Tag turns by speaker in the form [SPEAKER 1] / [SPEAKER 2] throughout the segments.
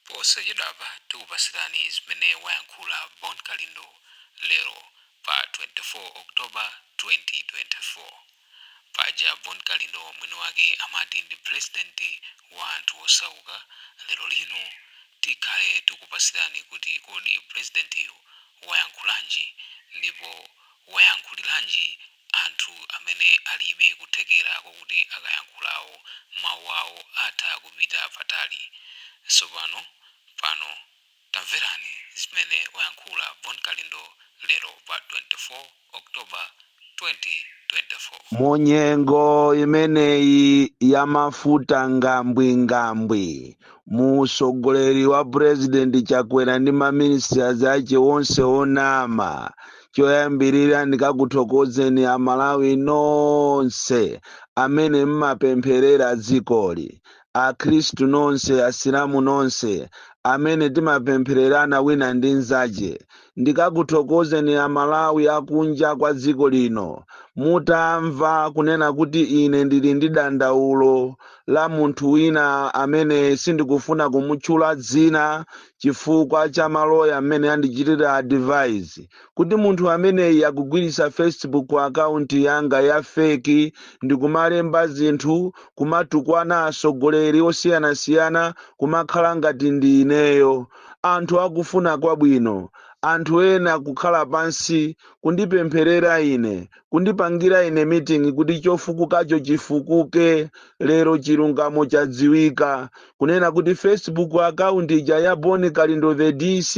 [SPEAKER 1] Posachedwapa tikupasirani zimene wayankhula Bon Kalindo lero pa 24 October 2024. Paja Bon Kalindo mwini wake amati ndi president wa anthu osauka, lero lino tikhale tikupasirani kuti kodi presidentiyo wayankhulanji ndipo wayankhuliranji anthu amene alibe kuthekera kokuti akayankhulawo mawu awo atha kupita patali. Tsopano pano tamverani zimene wayankhula Bon Kalindo lero pa 24 October 2024.
[SPEAKER 2] Munyengo imeneyi ya mafuta ngambwi ngambwi, mu utsogoleri wa President Chakwera ndi ma ministers ache onse onama, choyambirira ndikakuthokozeni amalawi nonse amene mmapempherera dzikoli akhristu nonse asilamu nonse amene timapemphererana wina ndi nzache ndikakuthokozeni amalawi akunja kwa dziko lino mutamva kunena kuti ine ndili ndi dandaulo la munthu wina amene sindikufuna kumutchula dzina chifukwa cha maloya mmene andichitira advise kuti munthu ameneyi akugwiritsa facebook account yanga ya fake ndikumalemba zinthu kumatukwana atsogoleri osiyanasiyana kumakhala ngati ndi ineyo anthu akufuna kwabwino anthu ena kukhala pansi kundipempherera ine kundipangira ine meeting kuti chofukukacho chifukuke lero chilungamo chadziwika kunena kuti facebook account ija ya Bon Kalindo the DC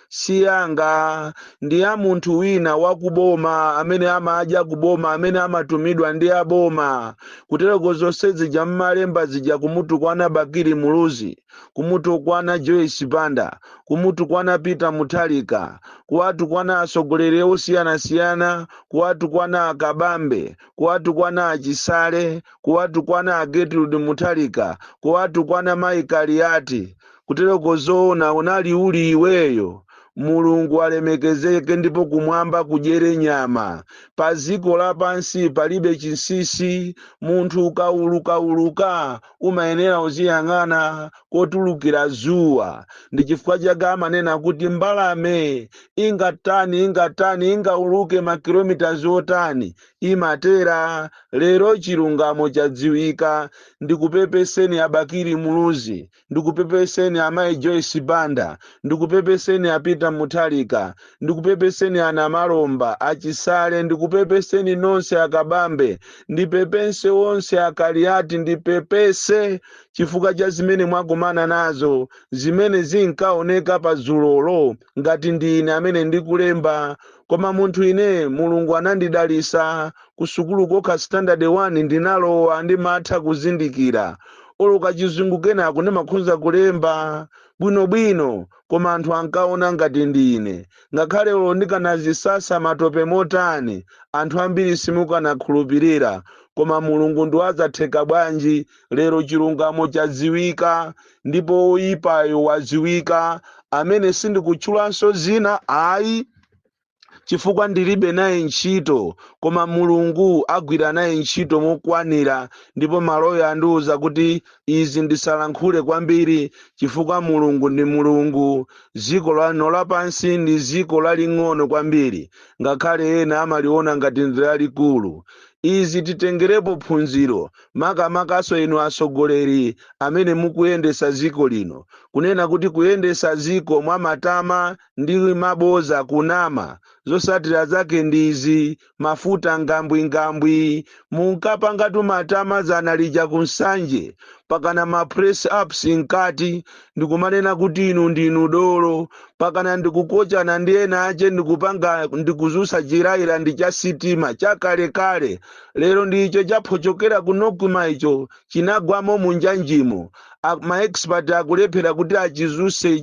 [SPEAKER 2] si yanga ndi ya munthu wina wa kuboma amene amadya kuboma amene amatumidwa ndi aboma kutereko zonse zija mmalemba zija kumutukwana bakili muluzi kumutukwana Joyce Banda, kumutukwana Peter Mutharika, kuwatukwana atsogoleri osiyanasiyana, kuwatukwana a Kabambe, kuwatukwana a Chisale, kuwatukwana a Gertrude Mutharika, kuwatukwana Mayi Kaliati. Kutereko zoona unali uli iweyo? Mulungu alemekezeke ndipo kumwamba kudyere nyama. Pa dziko lapansi palibe chinsinsi, munthu ukaulukauluka umayenera uziyang'ana kotulukira dzuwa ndi chifukwa chake amanena kuti mbalame ingatani ingatani ingauluke makilomitaz otani imatera lero chilungamo chadziwika ndikupepeseni a Bakili muluzi ndikupepeseni amayi joyce banda ndikupepeseni a Peter Mutharika Ndikupepeseni ana Malomba, a Chisale, ndikupepeseni nonse a Kabambe, ndipepese onse a Kaliati, ndipepese chifukwa cha zimene mwakumana nazo, zimene zinkaoneka pa dzulo lo ngati ndi ine amene ndikulemba, koma munthu ine Mulungu anandidalisa, kusukulu kokha standard 1 ndinalowa, ndimatha kuzindikira olo kachizungu kenako ndimakhonza kulemba bwinobwino. koma anthu ankaona ngati ndi ine. Ngakhale olo ndikanazisasa matope motani, anthu ambiri simukanakhulupirira, koma Mulungu ndi wazatheka bwanji, lero chilungamo chadziwika, ndipo woyipayo wadziwika, amene sindikutchulanso zina ayi. chifukwa ndilibe naye ntchito koma mulungu agwira naye ntchito mokwanira ndipo maloya andiuza kuti izi ndisalankhule kwambiri chifukwa mulungu ndi mulungu ziko lano lapansi ndi ziko laling'ono kwambiri ngakhale ena amaliona ngati ndi lalikulu izi titengerepo phunziro makamakaso inu atsogoleri amene mukuyendesa ziko lino kunena kuti kuyendesa ziko mwamatama ndi maboza kunama zosatira zake ndizi mafuta ngambwingambwi munkapangatu matama zana lija ku nsanje pakana ma press ups nkati ndikumanena kuti inu ndinu dolo pakana ndikukochana ndi ena ache ndikupanga ndikuzusa chinjirayira cha sitima chakalekale lero ndicho chaphochokera kunoku icho chinagwamo munjanjimo A- ma expert akulephera kuti achizuse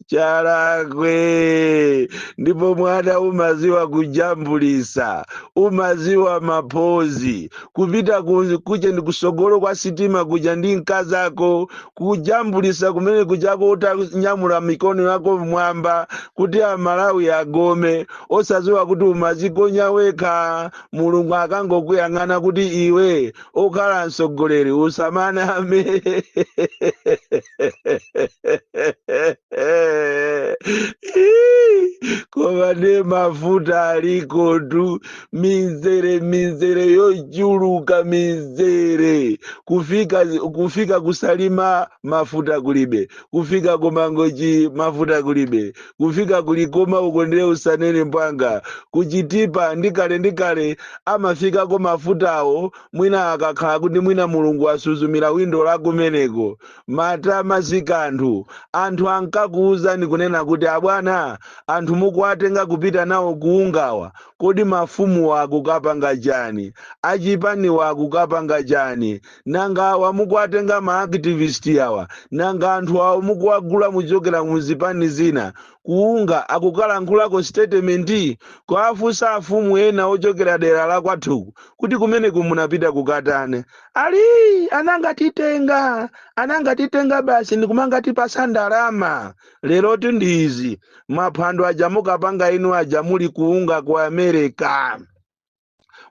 [SPEAKER 2] chalakwe ndipo mwana umaziwa kujambulisa umaziwa maphozi kupita ku- kuja ndi kusogolo kwa sitima kuja ndi mkazako kujambulisa kumene kujako utanyamula mikono yako mmwamba kuti amalawi agome osaziwa kuti umazikonda wekha mulungu akangokuyang'ana kuti iwe ukhala mtsogoleri usamaname koma nde mafuta alikotu mizere mizere yochuluka mizere kufika kusalima mafuta kulibe kufika kumangochi mafuta kulibe kufika ku likoma uko nde usanene mbwanga ku chitipa ndi kale kale amafikako mafutawo mwina akakhala kuti mwina mulungu asuzumira windo la kumeneko matama si kanthu anthu ankakuwuzani kunena kuti abwana anthu mukuwatenga kupita nawo ku UNGA-wa kodi mafumuwa akukapanga chani achipaniwa akukapanga chani nanga awa mukuwatenga ma activist awa nanga anthu awo mukuwagula muchokera mu zipani zina kuunga akukalankhulako statement kuwafunsa afumu ena ochokera dera la kwathuku kuti kumene kumunapita kukatani ali anangatitenga anangatitenga basi ndikumangatipasa ndalama leroti ndi izi maphwando aja mukapanga inu aja muli kuunga ku america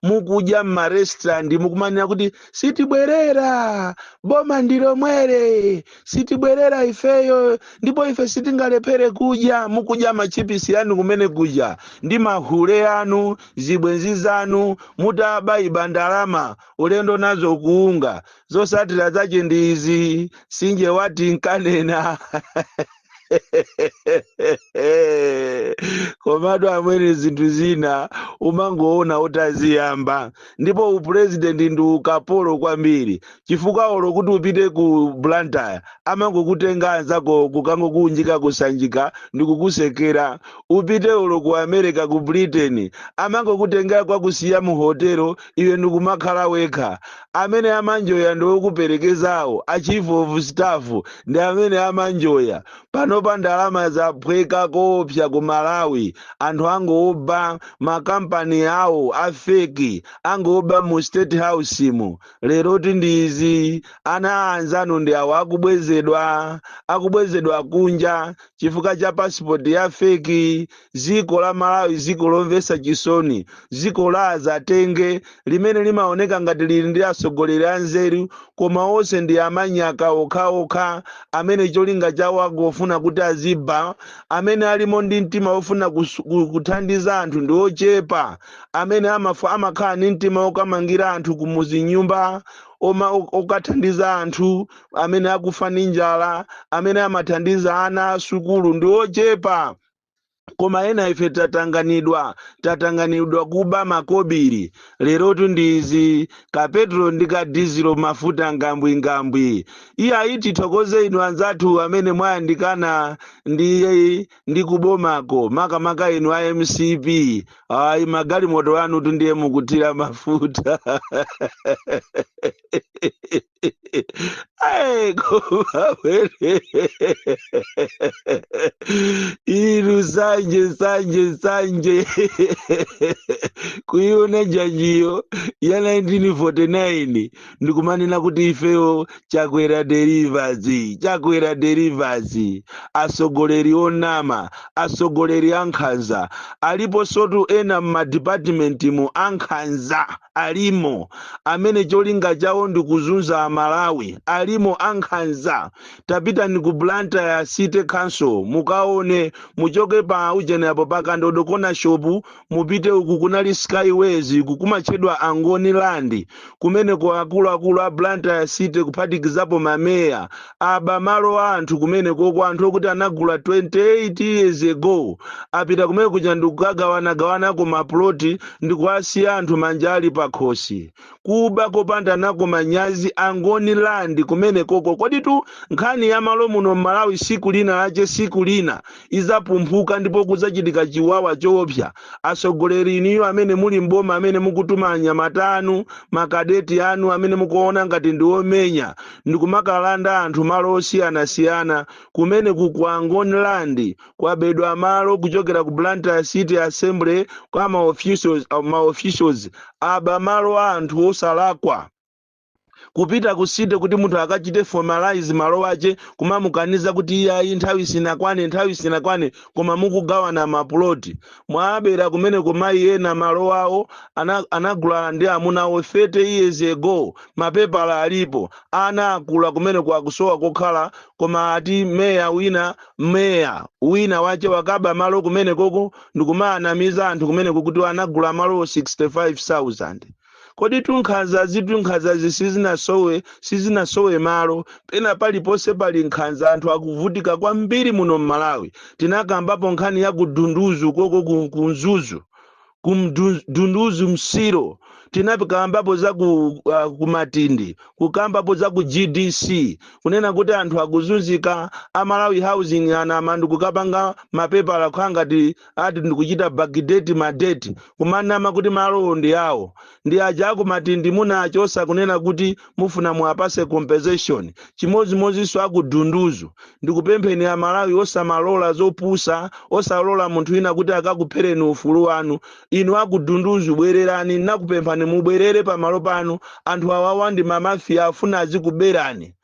[SPEAKER 2] mukudya m'marestaurant mukumanira kuti sitibwerera boma ndi lomwere sitibwerera ifeyo ndipo ife sitingalephere kudya mukudya machipisi yanu kumene kudya ndi mahule yanu zibwenzi zanu mutabaiba ndalama ulendo nazo kuunga zosatira zache ndi izi sinje wati nkanena komatu amwene zinthu zina umangoona utaziyamba ndipo upurezidenti ndi ukapolo kwambiri chifukwa olo kuti upite ku blantyre amangokutenga anzako kukangokuunjika kusanjika ndi kukusekera upite olo ku america ku britain amangokutenga kwakusiya mu hotelo iwe ndikumakhala wekha. Amene amanjoya ndi okuperekezawo, a chief of staff ndi amene amanjoya. Panopa ndalama zaphweka koopsa ku Malawi. Anthu angooba ma company awo a fake, angooba mu state house mu. Leroti ndi izi, ana a anzanu ndi awo akubwezedwa, akubwezedwa kunja chifukwa cha passport ya fake. ziko la malawi ziko lomvesa chisoni ziko la azatenge limene limaoneka ngati lili ndi atsogoleri anzeru koma onse ndi amanyaka okhaokha amene cholinga chawo akufuna kuti aziba amene alimo ndi mtima ofuna kuthandiza anthu ndi ochepa amene amakhala ndi mtima okamangira anthu kumuzi nyumba okathandiza anthu amene akufa ndi njala amene amathandiza ana asukulu ndi ochepa koma ena ife tatanganidwa tatanganidwa kuba makobiri lerotu ndi izi ka petulo ndi ka dizilo mafuta ngambwingambwi iye ayi tithokoze inu anzathu amene mwayandikana ndi ndi kubomako makamaka inu a mcp ayi magalimoto anutu ndiye mukuthira mafuta Hey, koma amwene. Inu sanje sanje sanje. Kuiona janjiyo ya 1949 ndikumanena kuti ifeyo chakwera delivers chakwera delivers asogoleri onama asogoleri ankhanza alipo sotu ena m'madipatimenti mu ankhanza alimo amene cholinga chawo ndi kuzunza a Malawi alimo ankhanza. Tapitani ku Blantyre City Council mukaone, muchoke pa ujeni apo pa Kandodo corner shop mupite uku kunali Skyways uku kumatchedwa Angoni Land. Kumeneko akuluakulu a Blantyre City kuphatikizapo ma Mayor aba malo a anthu kumenekoko anthu okuti anagula 28 years ago apita kumene kuja ndikukagawanagawanako maploti ndikuwasiya anthu manja ali pakhosi kuba kopanda nako manyazi Angoni Land kumenekoko koditu nkhani ya malo muno m'malawi siku lina lache siku lina izaphumphuka ndipo kuzachitika chiwawa choopsa, atsogoleri inuyo amene muli m'boma amene mukutuma anyamata anu, ma cadet anu amene mukuwaona ngati ndi omenya ndikumakalanda anthu malo osiyanasiyana, kumeneku ku Angoni Land kwabedwa malo kuchokera ku Blantyre City Assembly kwa ma officials aba malo a anthu osalakwa. kupita ku city kuti munthu akachite formalize malo ache kumamukaniza kuti iyayi nthawi sinakwane nthawi sinakwane koma mukugawana mapuloti mwaabera kumeneko mayi ena malo awo anagula ndi amuna awo 30 years ago mapepala alipo ana akula kumeneko akusowa kokhala koma ati meya wina meya wina wache wakaba malo kumenekoko ndikumaanamiza anthu kumeneko kuti anagula malo 65000 koditu nkhanzazitu nkhanzazi sizinasowe sizinasowe malo pena paliponse pali nkhanza anthu akuvutika kwambiri muno mmalawi tinakambapo nkhani ya ku Dunduzu uko ku Mzuzu ku Dunduzu Msiro tinakambapo za ku, uh, ku Matindi kukambapo za ku gdc kunena kuti anthu akuzunzika a Malawi Housing anama ndi kukapanga mapepala kukhala ngati ati ndikuchita backdate madeti kumanama kuti malowo ndi awo ndi aja aku Matindi muna- osakunena kuti mufuna muwapase compensation chimodzimodzinso aku Dunduzu ndikupempheni a Malawi osamalola zopusa osalola munthu wina kuti akakuphereni ufulu wanu inu aku Dunduzu bwererani nakupemphani mubwerere pamalo panu anthu awawa ndi mamafiya afuna azikuberani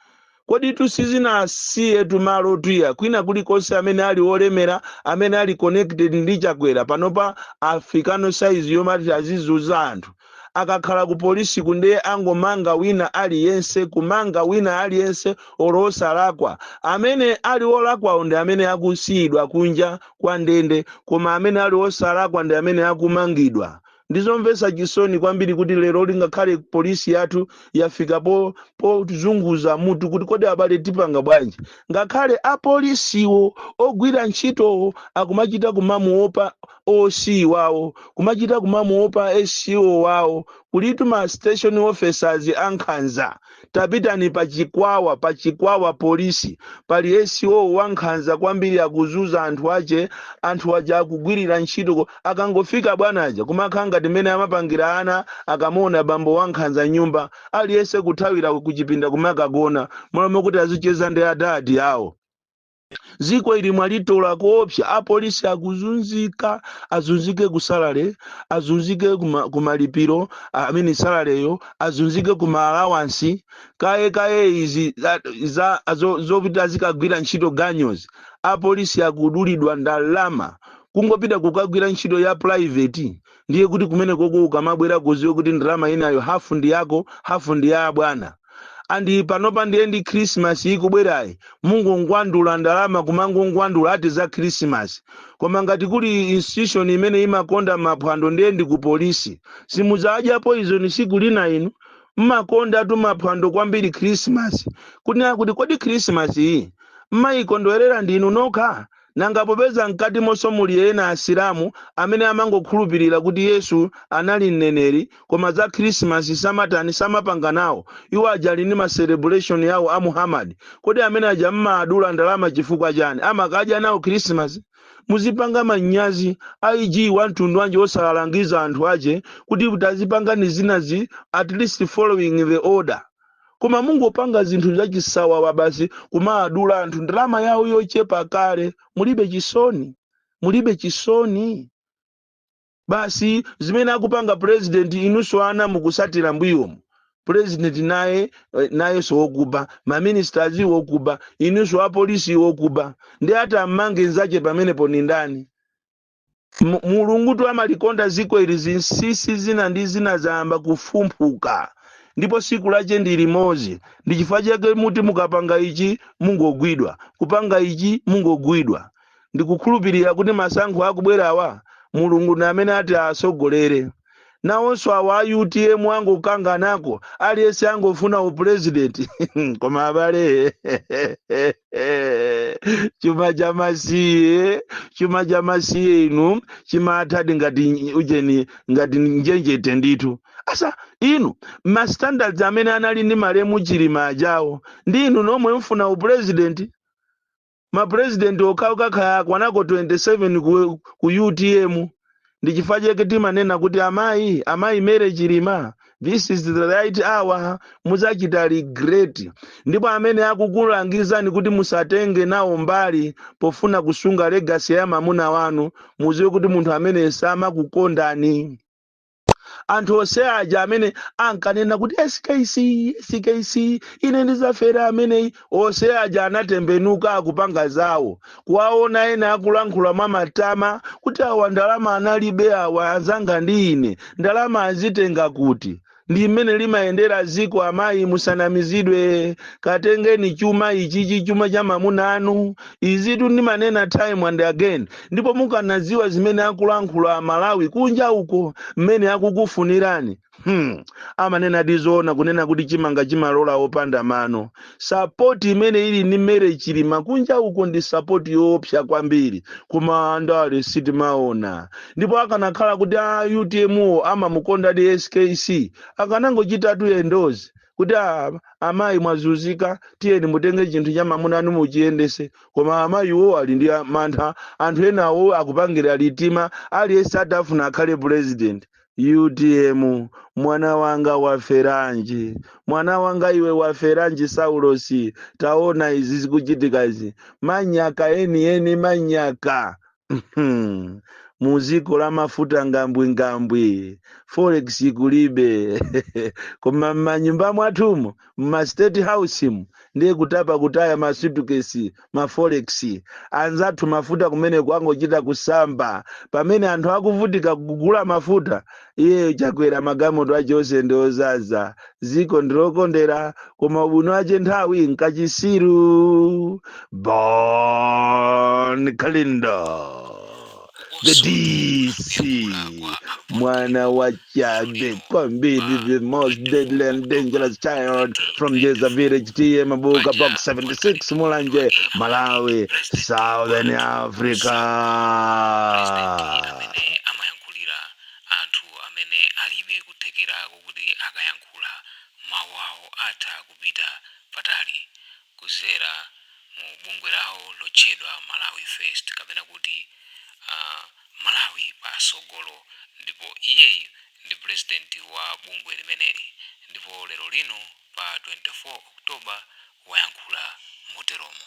[SPEAKER 2] Koditu sizinasiyetu malo otwiya kwina kulikonse amene ali olemera amene ali connected ndi Chakwera panopa afikano size yomati azizunza anthu akakhala ku polisiku nde angomanga wina aliyense kumanga wina aliyense olo osalakwa amene ali olakwawo ndi amene akusiyidwa kunja kwa ndende koma amene ali osalakwa ndi amene akumangidwa Ndi zomvetsa chisoni kwambiri kuti lero lingakhale polisi yathu yafika pozunguza mutu kuti kodi abale tipanga bwanji. Ngakhale apolisiwo ogwira ntchitowo akumachita kumamuopa OC wawo, kumachita kumamuopa SO wawo, kulitu ma station officers ankhanza. tapitani pa chikwawa pa chikwawa polisi pali SO wankhanza kwambiri akuzunza anthu ache anthu aja akugwirira ntchito ko- akangofika bwana aja kumakhala ngati mmene amapangira ana akamuona bambo wankhanza mnyumba aliyense kuthawira kuchipinda kumakagona m'malo mokuti azicheza ndi adadi awo Ziko ili mwalitola koopsa apolisi akuzunzika azunzike ku salary azunzike kuma, kumalipiro ah, I mean salareyo azunzike kuma allowance kaye kaye izi za- za zo- zopita azikagwira ntchito ganyozi apolisi akudulidwa ndalama kungopita kukagwira ntchito ya private ndiye kuti kumene koko ukamabwera uziwe kuti ndalama inayo, hafu ndi yako hafu ndi ya abwana andi panopa ndiye ndi khrisimasi ikubwerayi mungongwandula ndalama kumangongwandula ati za khrisimasi koma ngati kuli institution imene imakonda maphwando ndiye ndi ku polisi simudzadya poison siku lina inu mmakonda tu maphwando kwambiri khrisimasi kuti kodi khrisimasi iyi mmayikondwerera ndinu nokha Nanga popeza mkatimonso muli ena asilamu amene amangokhulupilira kuti Yesu anali mneneri koma za Christmas samatani samapanga nawo, iwo aja ali ndi ma celebration awo a Muhammad, kodi amene aja mmaadula ndalama chifukwa chani? Amakadya nawo Christmas? Muzipanga manyazi, IG wamtundu wanji osawalangiza anthu ache kuti tazipangani zinazi at least following the order. koma mungopanga zinthu zachisawawa basi kumaadula anthu ndalama yawo yochepa kale mulibe chisoni mulibe chisoni basi zimene akupanga president inunso ana mukusatira mbuyomu president naye eh, nayenso wokuba maministers wokuba inunso apolisi wokuba ndiye ati ammange nzache pamenepo ni ndani M- mulungu tu amalikonda ziko ili zinsisi zina ndi zina zayamba kufumphuka ndipo siku lache ndi limozi ndi chifukwa chake muti mukapanga ichi mungogwidwa kupanga ichi mungogwidwa ndikukhulupirira kuti masankho akubwerawa mulungu ndi amene ati atsogolere nawonso awa a utm angokanganako aliyense angofuna upulezidenti koma abale chuma cha masiye chuma cha masiye inu chimathadi ngati ujeni ngati njenjete ndithu asa inu ma standards amene anali ndi malemu chilima ajawo ndi inu nomwe mfuna upulezidenti ma president okhaoka kaya akwanako 27 ku, ku utm ndi chifukwa chake timanena kuti amayi amayi mary chilima this is the right hour muzachita regret ndipo amene akukulangizani kuti musatenge nawo mbali pofuna kusunga legacy ya mamuna wanu muziwe kuti munthu amene samakukondani anthu onse aja amene ankanena kuti skc skc ine ndizafera ameneyi onse aja anatembenuka akupanga zawo kuwaona ena akulankhula mwa matama kuti awa ndalama analibe awa anzanga ndi ine ndalama azitenga kuti ndi mmene limayendera ziko amayi musanamizidwe katengeni chuma ichichi chuma cha mamuna wanu izitu ndimanena time and again ndipo mukanadziwa zimene akulankhula amalawi kunja uko mmene akukufunirani hmm. amanenadi zoona kunena kuti chimanga chimalola opanda mano sapoti imene ili ndi mary chilima kunja uko ndi sapoti yoopsa kwambiri koma andale sitimaona ndipo akanakhala kuti a utm wo amamukondadi skc akanangochitatu endorse kuti "Ah, amayi mwazunzika tiyeni mutenge chinthu cha mamuna wanu muchiyendese koma amayi wo ali ndi mantha anthu enawo akupangira liuma aliyense akufuna akhale president utm mwana wanga waferanji mwana wanga iwe waferanji saulosi taona izi zikuchitika izi manyaka enieni manyaka Hmm. mu dziko la mafuta ngambwingambwi forex kulibe koma m'manyumba mwawomu m'ma state house mu ndiye kutapa kutaya ma suitcase ma forex anzathu mafuta kumene kwangochita kusamba pamene anthu akuvutika kugula mafuta iyeyo chakwera magalimoto ache onse ndi ozaza ziko ndilokondera koma ubwino ache nthawi mkachisi bon kalindo the dc mwana wa tchale kwambiri the most deadly and dangerous child from jeza village ta mabuka box 76 mulanje malawi southern africa
[SPEAKER 1] anthu amene alibe kuthekera kokuti akayankhula mawu awo atha kupita patali kuzera mu bungwe lawo lotchedwa Malawi First kapena kuti aMalawi patsogolo ndipo iyeyu ndi president wa bungwe limeneli ndipo lero lino pa 24 October wayankhula moteromo.